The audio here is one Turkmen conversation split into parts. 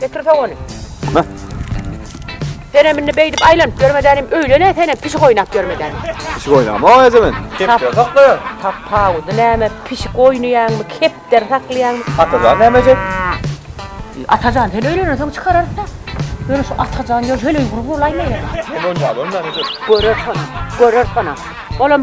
Getir soň ony. Senem indi beýdip aýlanyp ýörmedänim, öýlen-ä senem pişik oýnap ýörmedänim. Pişik oýnamaga eje men. Kepder saklaýan. Tapawudy näme, pişik oýnaýaňmy, kepder saklaýaňmy? Atajan näme ejek? Atajan sen öýlenensoň çykararys-da. Ýöne şu Atajan ýöne heleý gury bolaýmaýar. Sen oýnap görmäň ejek. Görer sonam, görer sonam. Olam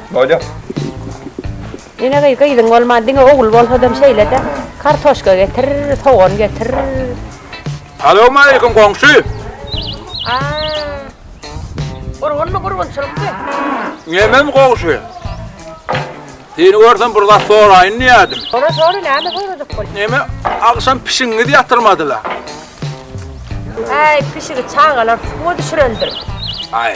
Bolýar. Ine gyz, gyzyň bolman diňe ogul bolsadam şeýle-de, kartoşka getir, sogan getir. Salowmaleýkim goňşy. Gurgunmy, gurgunçylykmy? Nemem goňşy. Seni görsem bir zat soraýyn diýädim. Sora, sora, näme sorajak bol. Neme, agşam pişigiňizi ýatyrmadylar? Häý, pişigi çagalar suwa düşürendir. Aý.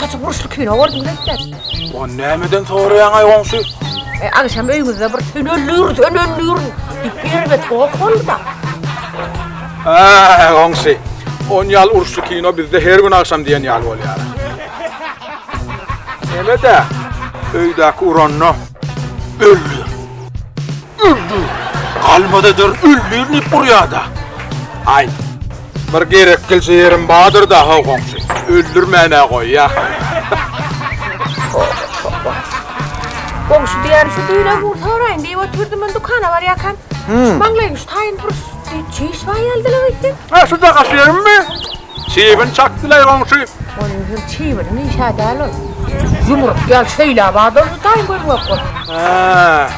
Gaty burçly kino gördüm gelipler. O nämeden soraýaň aý goňşy? E, agşam öýüňizde bir tönellür, tönellür diýip ýerine tok boldy-da. Aý goňşy, on ýal uruşly kino bizde her gün agşam diýen ýaly bolýar. Hemede öýdäki uranda öldü. Öldü. Galmada dur, öldi diýip urýada. Aý. Bir gerek gelje ýerim bardyr da haw goňşy. Öldürmäne goýýa. Goňşy diýýän şu düýne gur soraýyn diýip oturdym men dükana barýakam. Hmm. Maňlaýyň şu taýyn bir çiş bar ýalydylar öýtdüm. Ha şu da gaşyýermi? Çiýbin çakdylar goňşy. Onuň hem çiýbini nişä däl ol. Ýumruk ýal şeýle bardyr şu taýyn gözüm ýok bol. Ha.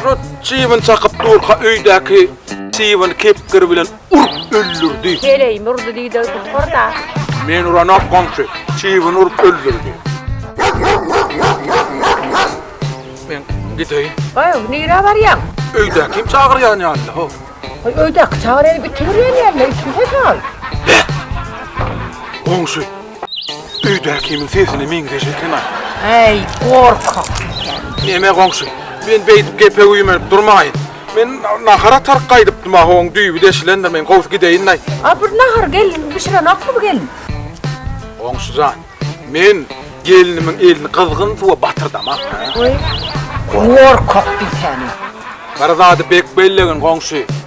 Şu çybyn çakyp durka öýdäki çybyn kepgir bilen urup öldürdi. Heleýimi urdy diýdi, gutar-da. Men uranok goňşy, çybyn urup öldürdi. Men gideýin. Goý, nirä barýaň? Öýdäkim çagyrýan ýaly-da, ho. Goý, öýdäki çagyryp, itiberýän ýaly-da, itiberse çal. Goňşy, Öýdäki kimiň sesine meňzeş eken-a. Äý, gorkak ýiten. Neme goňşy, men beýdip gepe güýmenip durmaýyn. Men nahar ataryk gaýdypdym-a, ho-oň düýbi deşilendir, men gowsy gideýin-aý. A bir nahar gelin bişirenokmy bu gelin? Goňşy jan, men gelnimiň elini gyzgyn suwa batyrdam-a. Äý, gorkak ýiten. Bir zady bek bellegin, goňşy.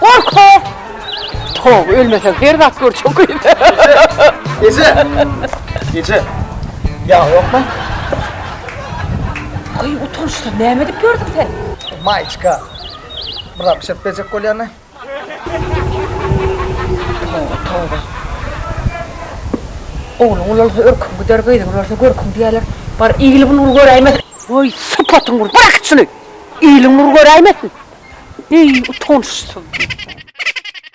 Gorkma! Tog, ölmeseň her zat gör çokyny. Eje! Eje! Ýag ýokmy? Aý, utançdan näme edip ýördüň sen? Maýçka. Biraz bişirip berjek bolýany. Toba, toba. Ogluň ulalsa örküň gider, gyzyň ulalsa görküň diýerler. Bar, igil-bulgur göräýmesin. Oý, sypatyň gür, bırak şuny! Iliň nur göräýmesin. Eý, utançsyz.